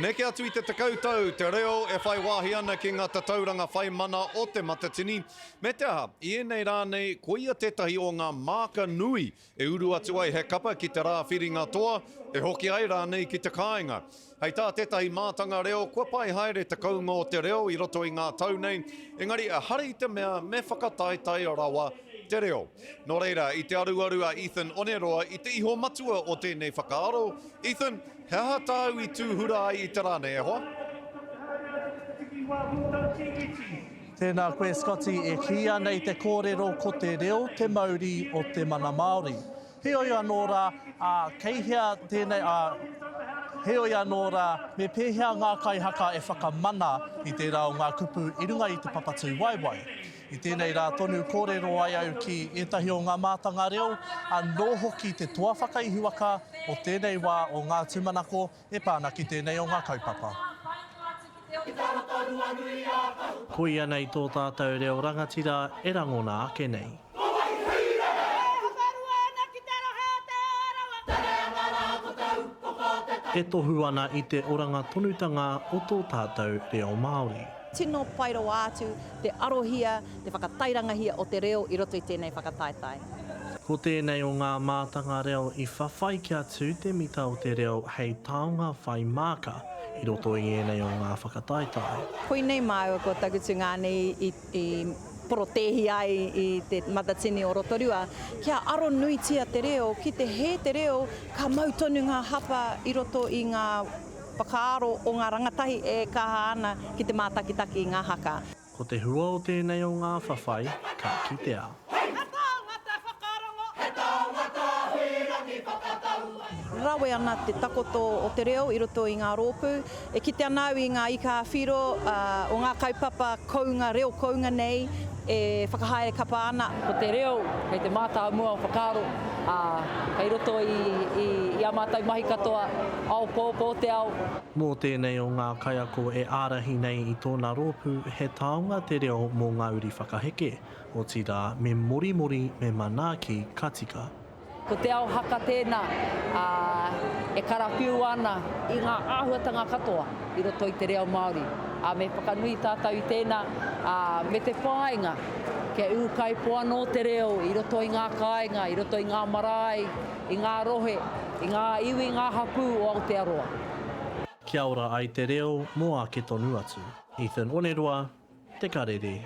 Neke atu i te tekau tau, te reo e whai wāhi ana ki ngā tatauranga whai mana o Te Matatini, me te aha, i ēnei rā nei, koia tētahi o ngā māka nui e uru atu ai he kapa ki te rā whiringa toa, e hoki ai rānei ki te kāinga. Hei tā tētahi mātanga reo, kua pai haere te kounga o te reo i roto i ngā tau nei, engari ehara i te mea me whakataetae rawa te reo. Nō reira, i te aruaru a Ethan Oneroa i te ihomatua o tēnei whakaaro, Ethan, he aha tāu i tūhura ai i te rā nei e hoa? Tēnā koe Scotty e kīia nei te kōrero ko te reo te mauri o te mana Māori. Heoi anō rā, ā, kei hea tēnei, ā, heoi anō rā, me pēhea ngā kaihaka e whakamana i tērā o ngā kupu i runga i te papatū waewae? I tēnei rā tonu kōrero ai au ki ētahi o ngā mātanga reo, anō hoki te toa whakaihuwaka o tēnei wā o ngā tūmanako e pā ana ki tēnei o ngā kaupapa. Koia nei tō tātou reo rangatira e rangona ake nei. E tohu ana i te oranga tonutanga o tō tātou reo Māori. Tino pai rawa atu te arohia, te whakatairangahia o te reo i roto i tēnei whakataetae. Ko tēnei o ngā mātanga reo i whawhai kia tū te mita o te reo hei taonga whai māka i roto i ēnei o ngā whakataetae. Koinei māua ko Tagutu Ngani i porotēhi ai i te Matatini o Rotorua, kia aro nuitia te reo, ki te hē te reo, ka mau tonu ngā hapa i roto i ngā Whakaaro o ngā rangatahi e kaha ana ki te mātakitaki i ngā haka. Ko te hua o tēnei o ngā whawhai ka kitea. Rawe ana te takoto o te reo i roto i ngā rōpū. E kite ana au i ngā ika ā-whiro o ngā kaupapa kounga, reo kounga nei. E whakahaere kapa ana. Ko te reo kei te mātāmua o whakaaro, ā, kei roto i ā mātou mahi katoa, ao poopō te ao. Mō tēnei o ngā kaiako e ārahi nei i tōna rōpū, he taonga te reo mō ngā uri whakaheke, otirā, me morimori, me manaaki, ka tika. Ko Te Ao Haka tēnā, ā, e karawhiua ana i ngā āhuatanga katoa i roto i te reo Māori, ā, me whakanui tātou i tēnā, ā, me te whāinga kia ūkaipō anō te reo i roto i ngā kāinga, i roto i ngā marae, i ngā rohe, i ngā iwi, ngā hapū o Aotearoa. Kia ora ai te reo mō ake tonu atu. Ethan Oneroa, Te Karere.